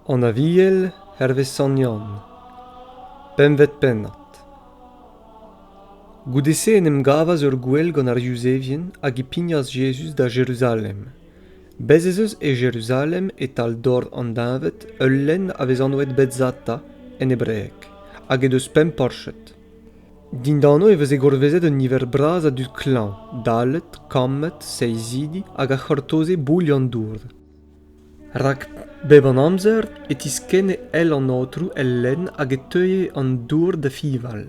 an aviel hervez sanian pempvet pennad goude-se en em gavas ur gouel gant ar yuzevien hag e pignas jezuz da jeruzalem bez' ez eus e jeruzalem e-tal dor an deñved ul lenn a vez anvet betzata en hebreeg hag he deus pemp porched Dindan-ho e veze gourvezet un niver bras a dud klañv, dallet, kammet, seizidi hag a c'hortoze boull an dour. Rak, bep an amzer, e tiskenne èl an Aotrou el lenn hag e teue an dour da fiñval.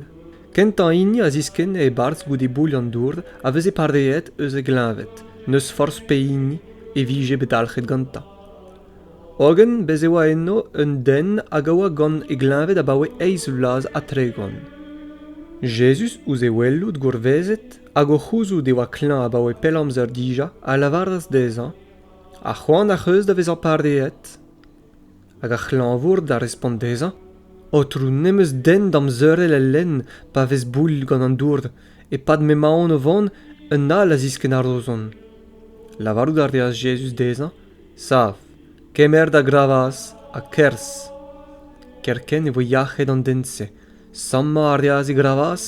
Kentañ hini a ziskenne e-barzh goude boull an dour a veze pareet eus e gleñved, n'eus forzh pehini e vije bet dalc'het gantañ. hogen bez' e oa eno un den hag a oa gant e gleñved abaoe eizh vloaz ha tregont Jezuz, ouzh e welout gourvezet hag o c'houzout e oa klañv abaoe pell amzer dija, a lavaras dezhañ Ha c'hoant ac'h eus da vezañ pareet? Hag ar c'hlañvour da respont dezhañ Aotrou, n'em eus den damzeurel el lenn pa vez boull gant an dour. E-pad m'emaon o vont, un all a ziskenn ar rozon. Lavarout a reas Jezuz dezhañ sav kemer da gravaz ha kerz kerkent e voe yac'hed an den-se sammañ a reas e gravaz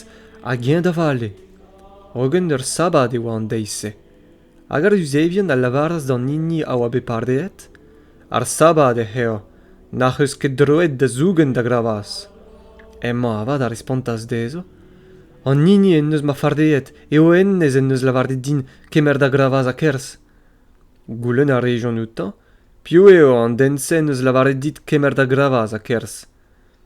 hag eñ da vale hogen ur sabad e oa an deiz-se hag ar yuzevien a lavaras d'an hini a oa bet pareet ar sabad ec'h eo n'ac'h eus ket droed da zougen da gravaz hemañ avat a respontas dezho an hini en deus ma fareet eo hennezh en deus lavaret din kemer da gravaz ha kerz Goulenn a rejont outañ piv eo an den-se en deus lavaret dit kemer da gravaz ha kerzh.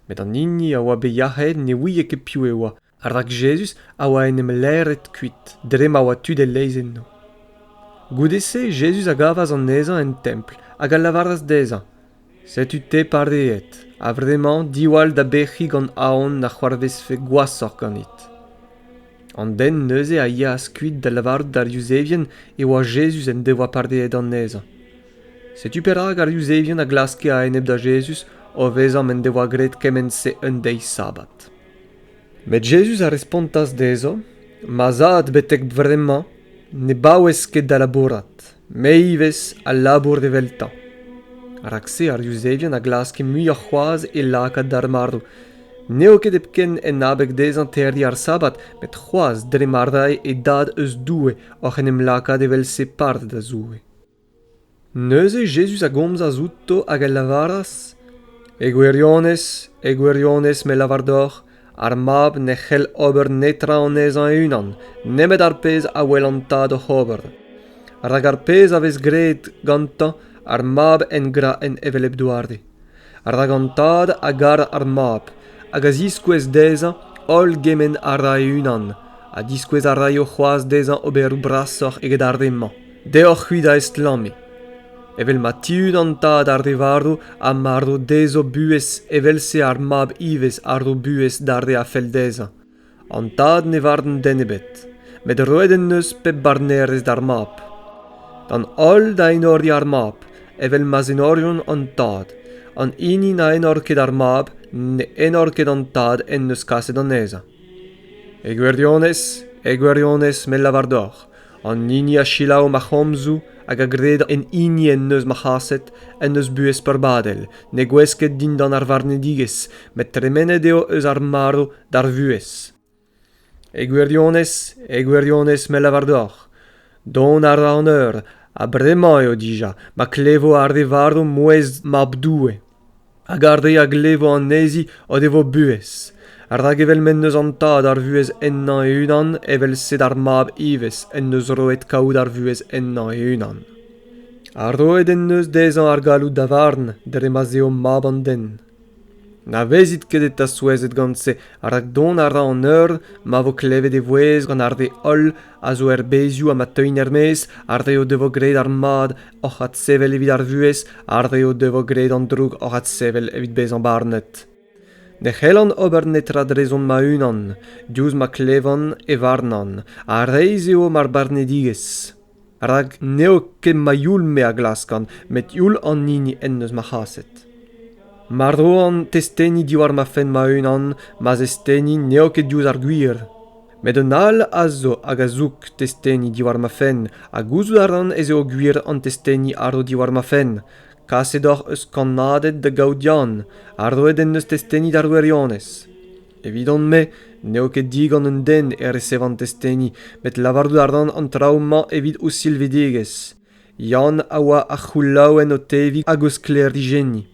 Met an hini a oa bet yac'hed ne ouie ket piv e oa, rak Jezuz a oa en em lêret kuit dre ma oa tud e-leizh enno. Goude-se Jezuz a gavas anezhañ en templ hag a lavaras dezhañ Setu-te pareet, a-vremañ diwall da bec'hiñ gant aon na c'hoarvezfe gwashoc'h ganit. An den neuze a yeas kuit da lavarout d'ar Yuzevien e oa Jezuz en devoa pareet anezhañ. Setu perak ar Yuzevien a glaske a-enep da Jezuz o vezañ m'en devoa graet kement-se un deiz sabbat. Met Jezuz a respontas dezho, Ma zad betek bremañ ne baouez ket da labourat. Me ivez a labour eveltañ. Rak-se ar Yuzevien a glaske muioc'h c'hoazh e lakaat d'ar marv. N'eo ket hepken en abeg dezhañ terriñ ar Sabbat, met c'hoazh dre ma rae e Dad eus Doue oc'h en em lakaat evel-se part da Zoue. Neuze Jezuz a gomzas outo hag a lavaras, E gwirionez, e gwirionez me lavar deoc'h, ar mab ne c'hell ober netra anezhañ e-unan nemet ar pezh a wel an tad oc'h ober rak ar pezh a vez graet gantañ ar mab en gra en hevelep doare rak an tad a gar ar mab hag a ziskouez dezhañ holl gement a ra e-unan ha diskouez a raio c'hoazh dezhañ oberoù brasoc'h eget ar re-mañ Deoc'h-c'hwi da estlammiñ, evel ma tiun an tad ar re varv ha marv dezho buhez evel-se ar mab ivez a ro buhez d'ar re a fell dezhañ. An tad ne varn den ebet, met roet en deus pep barnerez d'ar mab. D'an holl da enoriñ ar mab, evel ma'z enoriont an tad. An hini na enor ket ar mab, ne enor ket an tad en deus kaset anezhañ. E gwirionez, e gwirionez me lavar deoc'h, an hini a selaou ma c'homzoù hag a gred en hini en deus ma c'haset en deus buhez peurbadel ne gouez ket dindan ar varnedigezh met tremenet eo eus ar marv d'ar vuhez e gwirionez e gwirionez me lavar deoc'h dont a ra an eur ha bremañ eo dija ma klevo ar re varv mouezh mab doue hag ar re a glevo anezhi o devo buhez rak evel m'en deus an tad ar vuhez ennañ e-unan evel-se d'ar mab ivez en deus roet kaout ar vuhez ennañ e-unan ha roet en deus dezhañ ar galloud da varn dre ma'z eo mab an den na vezit ket eta souezhet gant se rak dont a ra an eur ma vo klevet e vouezh gant ar re holl a zo er bezioù ha ma teuint er-maez, ar re o devo graet ar mad oc'h adsevel evit ar vuhez, ar re o devo graet an droug oc'h adsevel evit bezañ barnet. Ne c'hellan ober netra drezon ma-unan, diouzh ma klevan e varnan, ha reizh eo mar barnedigezh. Rak n'eo ket ma youl-me a glaskan, met youl an hini en deus ma c'haset. Mar roan testeni diwar ma fenn ma-unan, ma zesteni n'eo ket diouzh ar gwir. met un all a zo hag a zoug testeni diwar ma fenn ha gouzout a ran ez eo gwir an testeni a ro diwar ma fenn kaset oc'h eus kannaded da gaout Yann ha roet en deus testeni d'ar wirionez evidon-me n'eo ket digant un den e resevan testeni met lavarout a ran an traoù-mañ evit o silvidigezh Yann a oa ar c'houlaouenn o teviñ hag o sklêrijenniñ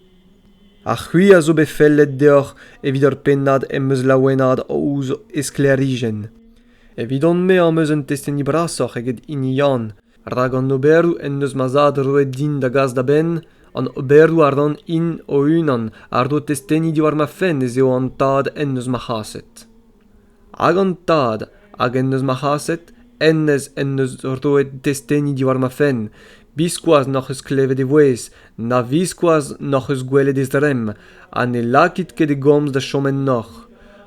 ha c'hwi a zo bet fellet deoc'h evit ur pennad em eus laouenaet ouzh e sklêrijenn evidon-me am eus un testeni brasoc'h eget hini Yann rak an oberoù en deus ma zad roet din da gas da benn an oberoù a ran hin o-unan a ro testeni diwar ma fenn ez eo an tad en deus ma c'haset hag an tad hag en deus ma c'haset hennezh en deus roet testeni diwar ma fenn biskoazh n'hoc'h eus klevet e vouezh na biskoazh n'hoc'h eus gwelet e zremm ha ne lakit ket e gomz da chom ennoc'h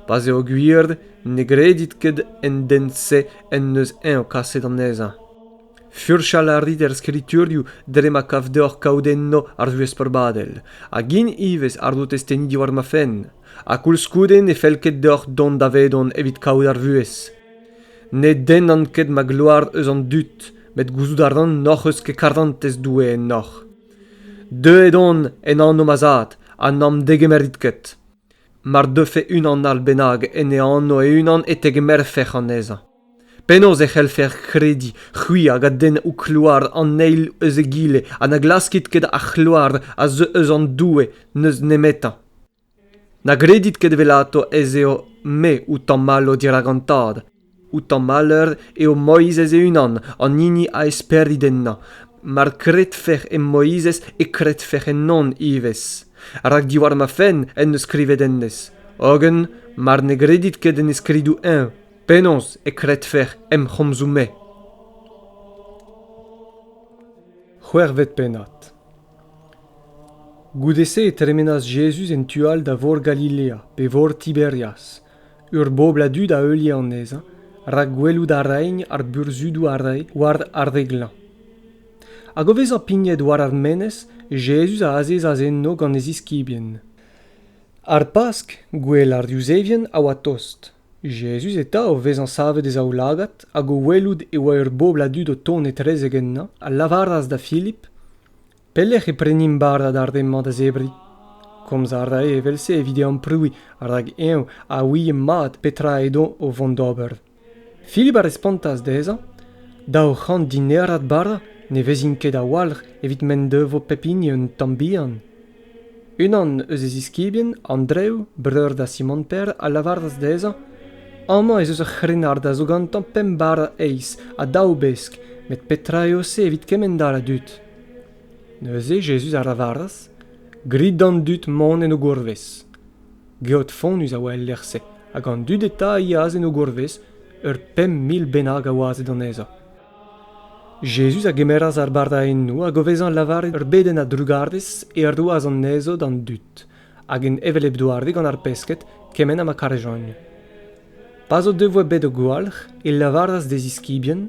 pa 'z eo gwir ne gredit ket en den-se en deus eñ kaset anezhañ Furchal a rit er skriturioù dre ma kav deoc'h kaout enno ar vuhez peurbadel, hag int ivez àrdo testenniñ diwar ma fenn, ha koulskoude ne fell ket deoc'h dont davedon evit kaout ar vuhez. Ne dennan ket ma gloar eus an dud, met gouzout a ran n'hoc'h eus ket karantez Doue ennoc'h. Deuet on en anv ma zad, ha n'am degemerit ket. Mar deufe unan all bennak en e anv e-unan e tegemerfec'h anezhañ. Penaos e c'hellfer krediñ c'hwi hag a denn ho kloar an eil eus egile ha na glaskit ket ar c'hloar a zeu eus an Doue n'eus nemetañ? Na gredit ket evelato ez eo me ho tammallo dirak an Tad. Ho tammalleur eo Moizez e-unan, an hini a esperit ennañ. Mar kredfec'h e Moizez e kredfec'h ennon ivez. Rak diwar ma fenn en deus skrivet hennezh. Hogen, mar ne gredit ket en e skridoù-eñ, Penaos e kredfec'h em c'homzoù-me ? C'hwec'hvet pennad. Goude-se e tremenas Jezuz en tu all da vor Galilea, pe vor Tiberias, ur bobl a dud a heulie anezhañ, rak gwelout a raent ar burzhudoù a rae war ar re glañv. Hag o vezañ pignet war ar menez, Jezuz a azezas enno gant e ziskibien. Ar Pask, gwell ar Yuzevien, a oa tost, Jezuz eta, o vezañ savet e zaoulagad hag o welout e oa ur bobl a dud o tont etrezek ennañ, a lavaras da Filip, Pelec'h e prenimp bara d'ar re-mañ da zebriñ? Komz a rae evel-se evit e amprouiñ, rak eñ a ouie mat petra edo o vont d'ober. Filip a respontas dezhañ, Daou c'hant dinerad bara ne vezint ket a-walc'h evit m'en devo pep hini un tamm bihan. Unan eus e ziskibien, Andrev, breur da Simon Pêr, a lavaras dezhañ Amañ ez eus ur c'hrennard a zo gantañ pemp bara eizh ha daou besk, met petra eo se evit kemend-all a dud? Neuze Jezuz a lavaras Grit d'an dud mont en o gourvez. Geot fonnus a oa el lec'h-se, hag an dud eta a yeas en o gourvez, ur pemp mil bennak a oaze anezhañ. Jezuz a gemeras ar bardaennoù hag o vezañ lavaret ur bedenn a-drugarez e roas anezho d'an dud, hag en hevelep doare gant ar pesked kement ha ma karejont. Pa'z o devoa bet o gwalc'h e lavaras d'e ziskibien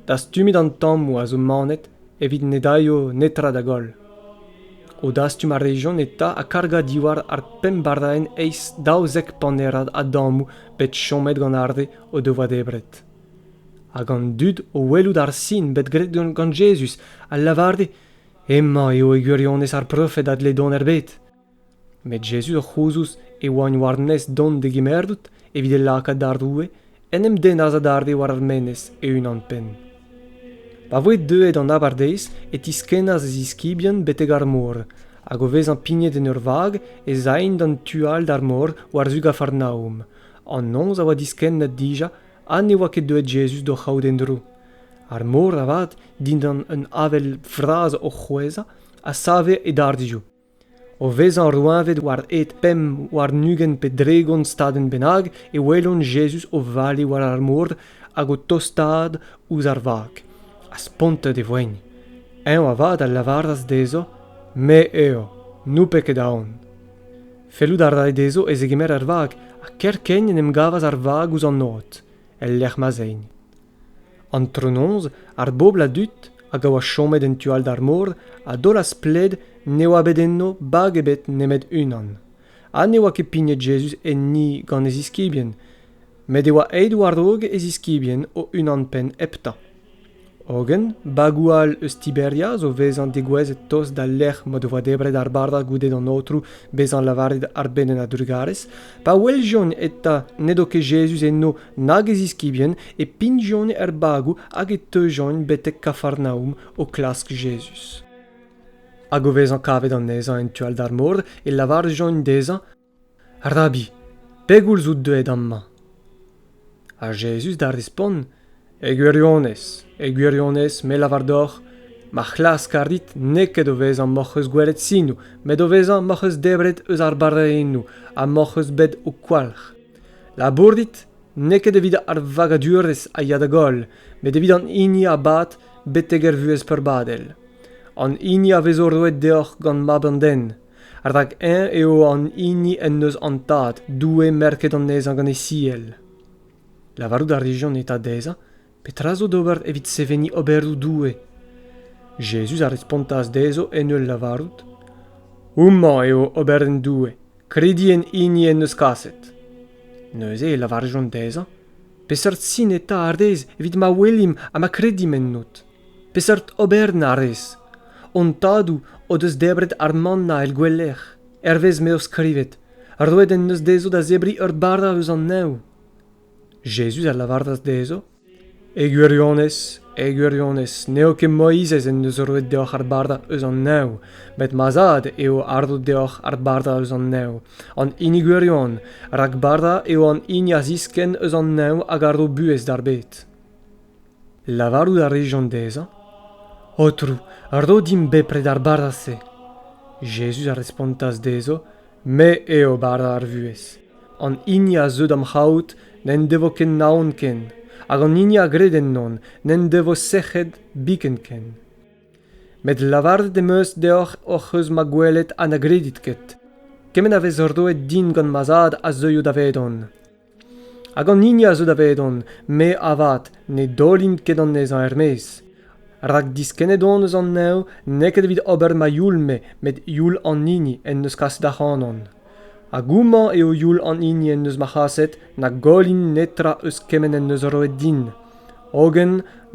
dastumet an tammoù a zo manet evit ne daio netra da goll. O dastum a rejont eta ha kargañ diwar ar pemp bardaenn eizh daouzek panerad a dammoù bet chomet gant ar re o devoa debret. hag an dud o welout ar sin bet graet gant Jezuz a lavare hemañ eo e gwirionez ar profed a dle dont er bed. Met Jezuz o c'houzouz e oaint war-nes dont da gemerout evit e lakaat d'ar roue en em dennas adarre war ar menez e-unan-penn. Pa voe deuet an abardaez e tiskennas e ziskibien betek ar mor, hag o vezañ pignet en ur vag ez aent d'an tu all d'ar mor war-zu Gafarnaom, An noz a oa diskennet dija ha ne oa ket deuet Jezuz d'o c'haout en-dro. Ar mor avat, dindan un avel vras o c'hwezhañ, a save e darzioù. O vezañ roeñvet war hed pemp, warn-ugent pe dregont stadenn bennak e welont Jezuz o vale war ar mor hag o tostaat ouzh ar vag. Ha spontet e voent. Eñ avat a lavaras dezho, Me eo, n'out ket aon. Fellout a rae dezho e zegemer ar vag, ha kerkent en em gavas ar vag ouzh an od, el lec'h ma'z aent. Antronoz, ar bobl a dud hag a oa chomet en tu all d'ar mor a daolas pled ne oa bet enno bag ebet nemet unan, ha ne oa ket pignet Jezuz enni gant e ziskibien, met e oa aet war-raok e ziskibien o-unan-penn heptañ. Hogen bagoù all eus Tiberia zo vezañ degouezhet tost d'al lec'h m'o devoa debret ar bara goude d'an aotrou bezañ lavaret arbenn a-drugarez, pa weljont eta n'edo ket Jezuz eno nag e ziskibien, e pignjont er bagoù hag e teujont betek Kafarnaoum o klask Jezuz. Hag o vezañ kavet anezhañ en tu all d'ar mor, e lavarjont dezhañ Rabbi, pegoulz out deuet amañ? Ha Jezuz da respont, E gwirionez, e gwirionez, me lavar deoc'h, ma c'hlask a rit n'eo ket o vezañ m'hoc'h eus gwelet sinoù, met o vezañ m'hoc'h eus debret eus ar barrennoù ha m'hoc'h eus bet ho kwalc'h. Labourit n'eo ket evit ar vagadurezh a ya da goll, met evit an hini a bad betek er vuhez peurbadel. An hini a vezo roet deoc'h gant Mab an Den, rak eñ eo an hini en deus an Tad, Doue merket anezhañ gant e siell. Lavarout a rijont eta dezhañ petra zo d'ober evit seveniñ oberoù Doue. Jezuz a respontas dezho en ul lavarout Houmañ eo oberenn Doue, kredi en hini en deus kaset. Neuze e lavarjont dezhañ Peseurt sin eta ar rez evit ma welimp ha ma kredim ennot Peseurt oberenn a rez? Hon tadoù o deus debret ar mannañ el gouelec'h, hervez m'eo skrivet. Roet en deus dezho da zebriñ ur bara eus an neñv. Jezuz a lavaras dezho, E gwirionez, e gwirionez, n'eo ket Moizez en deus roet deoc'h ar bara eus an neñv, met ma zad eo a ro deoc'h ar bara eus an neñv, an hini gwirion, rak bara eo an hini a ziskenn eus an neñv hag a ro buhez d'ar bed. Lavarout a rejont dezhañ, Aotrou, ro dimp bepred ar bara-se. Jezuz a respontas dezho, Me eo bara ar vuhez. An hini a zeu d'am c'haout n'en devo ket naon ken, hag an hini a gred ennon n'en devo sec'hed biken ken. Met lavaret em eus deoc'h hoc'h eus ma gwelet ha na gredit ket. Kement a vez roet din gant ma zad a zeuio davedon. Hag an hini a zeu davedon, me avat ne daolimp ket anezhañ er-maez, rak diskennet on eus an neñv n'eo ket evit ober ma youl-me met youl an hini en deus kaset ac'hanon. Hag houmañ eo youl an hini en deus ma c'haset na gollin netra eus kement en deus roet din, hogen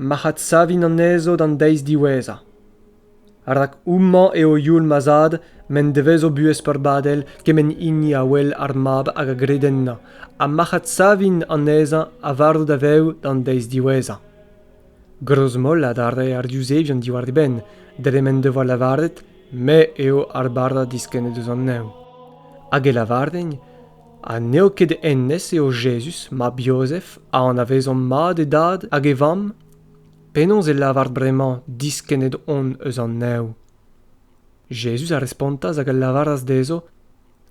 mac'h adsavin anezho d'an deiz diwezhañ. rak houmañ eo youl ma zad m'en devezo buhez peurbadel kement hini a wel ar mab hag a gred ennañ ha marc'had savin anezhañ a varv da vev d'an deiz diwezhañ grozmollad a rae ar yuzevion diwar e benn dre m'en devoa lavaret me eo ar barrad diskennet eus an neñv hag e lavarent ha n'eo ket hennezh eo Jezuz mab Jozef a anavezomp mat e dad hag e vamm Penaos e lavar bremañ diskennet on eus an neñv? Jezuz a respontas hag a lavaras dezho,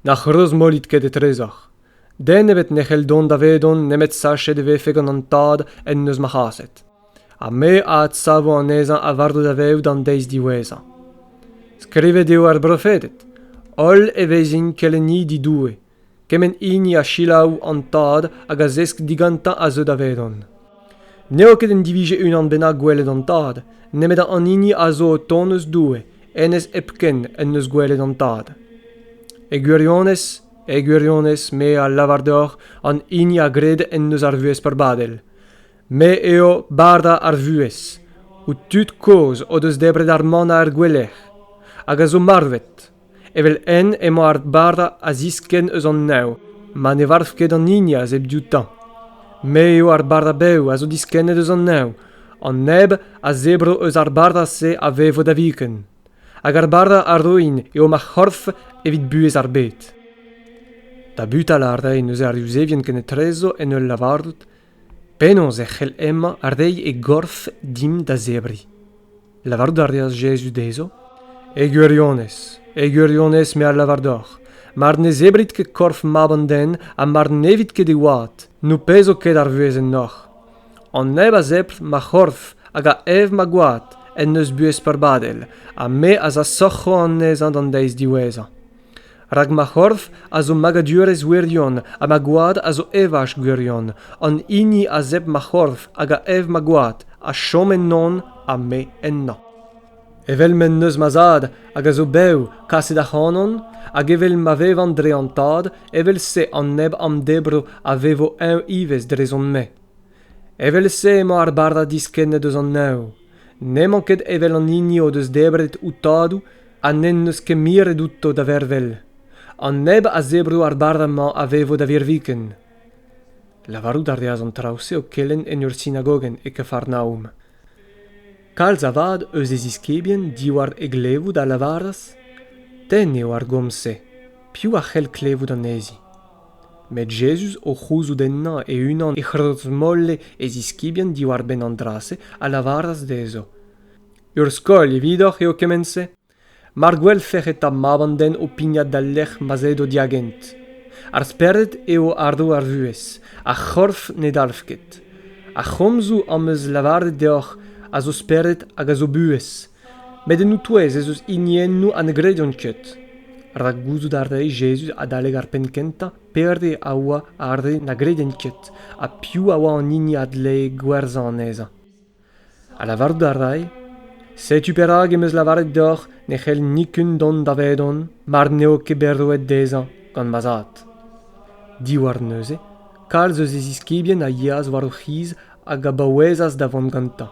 Na c'hreuzmollit ket etrezoc'h. Den ebet ne c'hell dont davedon nemet sachet e vefe gant an Tad en deus ma c'haset. Ha me a adsavo anezhañ a-vardo daveout an deiz diwezhañ. Skrivet eo ar brofeded, Holl e vezint kelennidi Doue, Kement hini a selaou an tad hag a zesk digantañ a zeu davedon. N'eo ket en divije unan bennak gwelet an tad, nemet an hini a zo o tont eus Doue, hennezh hepken en deus gwelet an tad. E gwirionez, e gwirionez me a lavar deoc'h an hini a gred en deus ar vuhez perbadel. Me eo bara ar vuhez, ho tud kozh o deus debret ar mann ar gwelec'h, hag a zo marvet. Evel-henn emañ ar bara a ziskenn eus an neñv ma ne varv ket an hini a zeu dioutañ. Me eo ar bara bev a zo diskennet eus an neñv. An neb a zebro eus ar bara-se a vevo da viken. Hag ar bara a roin eo ma c'horf evit buhez ar bed. Tabutal a rae neuze ar Yuzevien kenetrezo en ul lavarout Penaos e c'hell hemañ reiñ e gorf dimp da zebriñ? Lavarout a reas Jezuz dezho, E gwirionez, e gwirionez me a lavar deoc'h, mar ne zebrit ket korf Mab an den ha mar n'evit ket e oad, n'ho pezo ket ar vuhez ennoc'h. An neb a zebr ma c'horf hag a ev ma gwad en deus buhez peurbadel, ha me az asoc'ho anezhañ d'an deiz diwezhañ. rak ma c'horf a zo magadurezh wirion ha ma gwad a zo evaj gwirion an hini a zep ma c'horf hag a ev ma gwad a chom ennon ha me ennañ evel m'en deus ma zad hag a zo bev kaset ac'hanon hag evel ma vevan dre an tad evel-se an neb am debro a vevo eñ ivez drezon-me evel-se emañ ar bardad diskennet eus an neñv n'emañ ket evel an hini o deus debret ho tadoù ha n'en deus ket miret outo da vervel. An neb a zebro ar barrez-mañ a vevo da virviken. Lavarout a reas an traoù-se o kelenn en ur sinagogenn e Kafarnaom. Kalz avat eus e ziskibien diwar e glevout a lavaras Tenn eo ar gomz-se, piv a c'hell klevout anezhi Met Jezuz, o c'houzout ennañ e-unan e c'hrozmolle e ziskibien diwar-benn an dra-se, a lavaras dezho Ur skol evidoc'h eo kement-se mar gwelfec'h eta mab an den o pignat d'al lec'h ma'z aet o diagent. Ar spered eo ardo ar vuhez, ar c'horf ne dalv ket. Ar c'homzoù am eus lavaret deoc'h a zo spered hag a zo buhez, met en o-touez ez eus hiniennoù ha ne grediont ket. Rak gouzout a rae Jezuz adalek ar penn kentañ pere a oa ar re na gredent ket ha piv a oa an hini a dlee gwerzhañ anezhañ. Ha lavarout a ray, setu perak em eus lavaret deoc'h ne c'hell nikun dont davedon mar n'eo ket bet roet dezhañ gant ma zad. Diwar neuze, kalz eus e ziskibien a yeas war o c'hiz hag a baouezas da vont gantañ.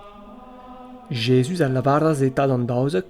Jezuz a lavaras eta d'an daouzek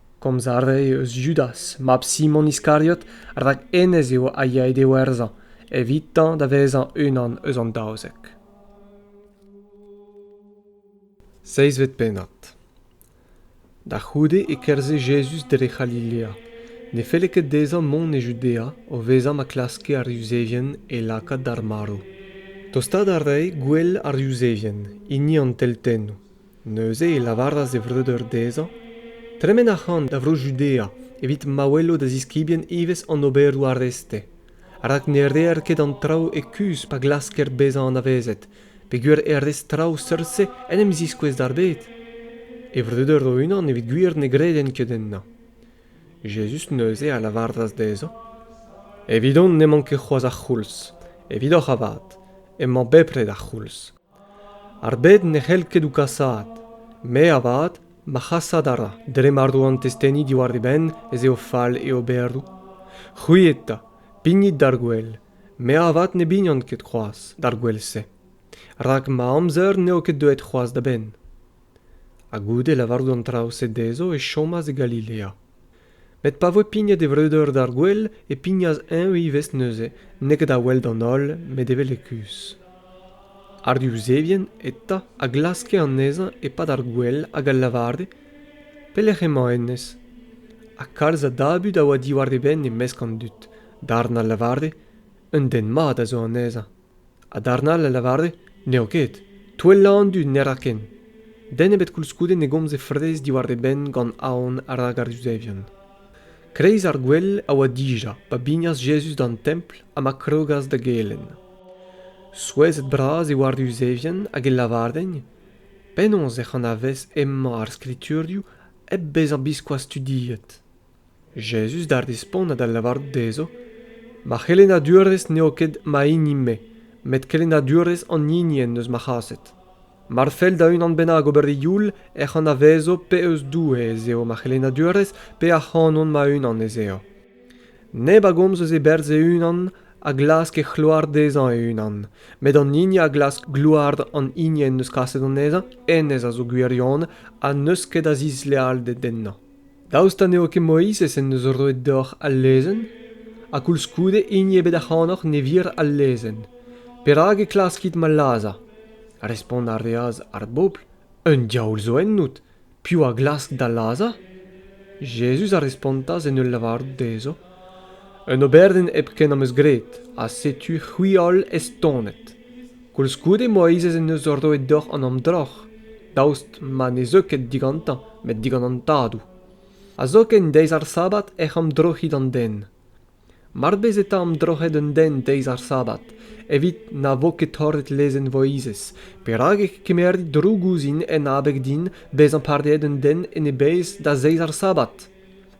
komz a rae eus Judas mab Simon Iskariot rak hennezh eo a yae da werzhañ evitañ da vezañ unan eus an daouzek. Seizvet pennad Da c'houde e kerzhe Jezuz dre C'halilea. Ne felle ket dezhañ mont e Judea o vezañ ma klaske ar Yuzevien e lakaat d'ar marv. Tostaat a rae gwell ar Yuzevien, hini an teltennoù. Neuze e lavaras e vreudeur dezhañ tremen ac'han da Vro-Judea evit ma welo da ziskibien ivez an oberoù arreste, rak ne reer ket an traoù e kuzh pa glasker bezañ anavezet, peogwir er rez-traoù seurt-se en em ziskouez d'ar bed. E vreudeur o-unan evit gwir ne gredent ket ennañ. Jezuz neuze a lavaras dezhañ Evidon n'emañ ket c'hoazh ar c'houlz. Evidoc'h avat emañ bepred ar c'houlz. Ar bed ne c'hell ket ho kasaat. Me avat, ma c'hasat a ra dre ma ro an testeni diwar e benn ez eo fall e oberoù. C'hwi eta, pignit d'ar gwel. Me avat ne bignan ket c'hoazh d'ar gwel-se. Rak ma amzer n'eo ket deuet c'hoazh da benn. Ha goude lavarout an traoù-se dezho e chomas e Galilea. met pa voe pignet e vreudeur d'ar gouel e pignas eñ ivez neuze n'eo ket da weld an holl met evel e kuzh ar yuzevien eta a glaske anezhañ e-pad ar gouel hag a lavare pelec'h emañ hennezh ha kalz a dabut a oa diwar e benn e-mesk an dud darn a lavare un den mat a zo anezhañ ha darn all a lavare n'eo ket touellañ an dud ne ra ken den ebet koulskoude ne gomze fraezh diwar e benn gant aon rak ar yuzevion kreiz ar gwel a oa dija pa bignas jezuz d'an templ ha ma krogas da gelenn souezhet-bras e oa ar yuzevien hag e lavardent penaos ec'h anavez hemañ ar skriturioù hep bezañ biskoazh studiet Jezuz da respontañ da lavarout dezho, Ma c'helennadurezh n'eo ket ma hini-me, met kelennadurezh an hini en deus ma c'haset. Mar fell da unan bennak ober e youl ec'h anavezo pe eus Doue ez eo ma c'helennadurezh pe ac'hanon ma-unan ez eo. Neb a gomz eus e berzh e-unan a glask e c'hloar dezhañ e-unan, met an hini a glask gloar an hini en deus kaset anezhañ, hennezh a zo gwirion ha n'eus ket a zislealded ennañ. Daoust ha n'eo ket Moizez en deus roet deoc'h al lezenn? Ha koulskoude hini ebet ac'hanoc'h ne vir al lezenn. Perak e klaskit ma lazhañ? Respont a reas ar bobl, Un diaoul zo ennout. Piv a glask da lazhañ? Jezuz a respontas en ul lavarout dezho, Un oberenn hepken am eus graet, ha setu c'hwi holl estonet. Koulskoude Moizez en deus roet deoc'h an amdroc'h, daoust ma ne zeu ket digantañ met digant an Tadoù. Ha zoken deiz ar Sabbat ec'h amdroc'hit an den. Mar bez eta amdroc'het un den deiz ar Sabbat, evit na vo ket torret lezenn Moizez, perak e kemerit droug ouzhin en abeg din bezañ pardaet un den en e bezh da zeiz ar Sabbat?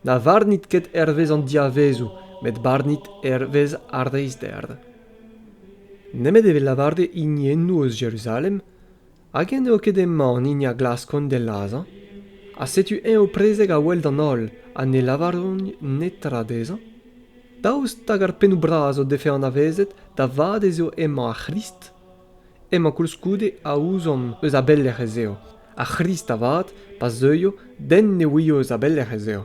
Na varnit ket hervez an diavezoù, met barnit hervez ar reizhder. Nemet evit lavaret hiniennoù eus Jeruzalem, hag-eñ n'eo ket emañ an hini a glaskont d'e lazhañ, ha setu eñ o prezeg a-wel d'an holl ha ne lavaront netra dezhañ? Daoust hag ar pennoù bras o defe anavezet da vat ez eo emañ ar C'hrist? Emañ koulskoude a ouzomp eus a belec'h ez eo, ar C'hrist avat, pa zeuio, den ne ouio eus a belec'h ez eo.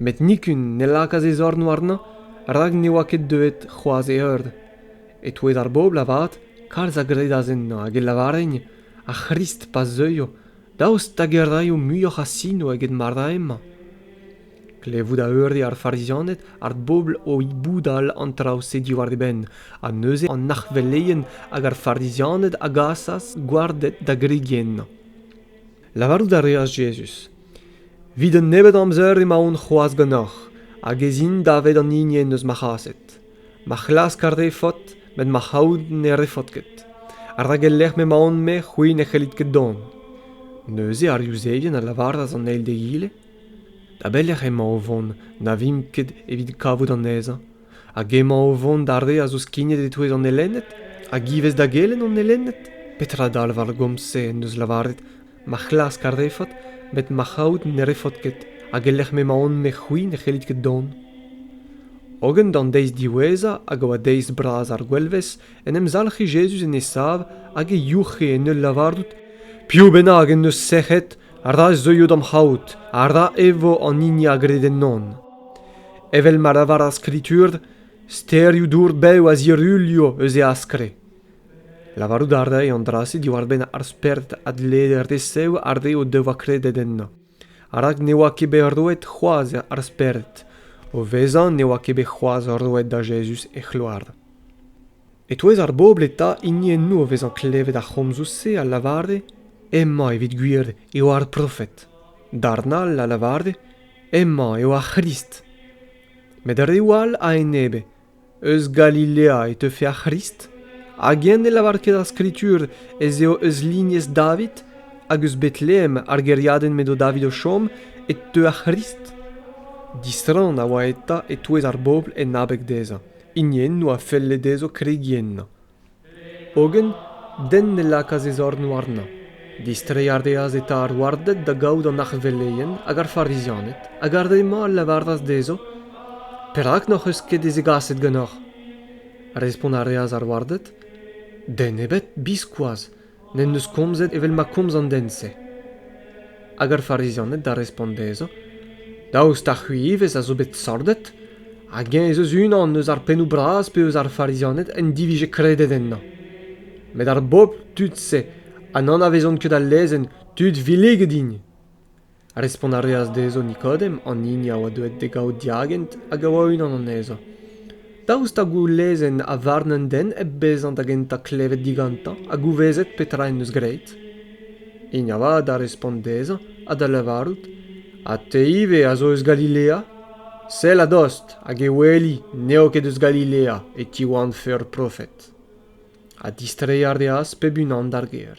met nikun ne lakaas e zorn warnañ rak ne oa ket deuet c'hoazh e eur. E-touez ar bobl avat, kalz a gredas ennañ hag e lavarent ar C'hrist pa zeuio, daoust hag e raio muioc'h a sino eget ma ra hemañ. Klevout a eure ar Farizianed ar bobl o boudal an traoù-se diwar e benn, ha neuze an arc'hveleien hag ar Farizianed a gasas gwarded da gregi ennañ. Lavarout a reas Jezuz, ''Evit un nebeud amzer emaon c'hoazh ganeoc'h hag ez in davet an hini en deus ma c'haset. Ma c'hlask ar refot met ma c'haout ne refot ket, rak el lec'h m'emaon-me c'hwi ne c'hellit ket dont.'» Neuze ar Yuzevien a lavaras an eil d'egile, Da belec'h emañ o vont na vimp ket evit kavout anezhañ? Hag emañ o vont d'ar re a zo skignet e-touez an elenned hag ivez da gelenn an elenned? Petra dalv ar gomz-se en deus lavaret ma c'hlask ar refot met ma c'haout ne refot ket hag e-lec'h m'emaon-me c'hwi ne c'hellit ket dont? Hogen d'an deiz diwezhañ hag a oa deiz bras ar gwelvezh en em zalc'he Jezuz en e sav hag e youc'he en ul lavarout Piv bennak en deus sec'hed, ra zeuio d'am c'haout ha ra e vo an hini a gred ennon. Evel ma lavar ar Skritur, sterioù dour bev a zirulio eus e askre. Lavarout a rae an dra-se diwar-benn ar spered a dlee resev ar re o devoa kredet ennañ. Rak ne oa ket bet roet c'hoazh ar spered. O vezañ ne oa ket bet c'hoazh roet da Jezuz e c'hloar. E-touez ar bobl eta hiniennoù o vezañ klevet ar c'homzoù-se a lavare hemañ evit gwir eo ar profed, darn all a lavare hemañ eo ar C'hrist. Met reoù all a-enebe, eus Galilea e teufe ar C'hrist, hag eñ ne lavar ket ar Skritur ez eo eus lignez David hag eus Betlehem ar gêriadenn m'edo David o chom e teu ar C'hrist? Disrann a oa eta e-touez ar bobl en abeg dezhañ. hini enno a felle dezho kregiñ ennañ. Hogen den ne lakaas e zorn warnañ. Distreiñ a reas eta ar warded da gaout an arveleien hag ar Farizianed, hag ar re-mañ a lavaras dezho, «Perak n'hoc'h eus ket e zegaset ganeoc'h?» Respont a reas ar warded, «Den ebet, biskoazh. n'en deus komzet evel ma komz an den-se. Hag ar Farizianed da respont dezhañ, Daoust ha c'hwi ivez a zo bet sordet? Hag eñ ez eus unan eus ar pennoù bras pe eus ar Farizianed en divije kredet ennañ. Met ar bobl, tud-se, ha n'anavezont ket al lezenn, tud villiget int. Respont a reas dezho Nikodem, an hini a oa deuet d'e gaout diagent hag a oa unan anezhañ. Daoust ha goulezenn ha varn an den hep bezañ da gentañ klevet digantañ ha gouvezet petra en deus graet? Hini avat a respont dezhañ ha da lavarout, Ha te ivez a zo eus Galilea? Sell a-dost hag e weli n'eo ket eus Galilea e tiwanvfe ur profed. Ha distreiñ a reas pep unan d'ar gêr.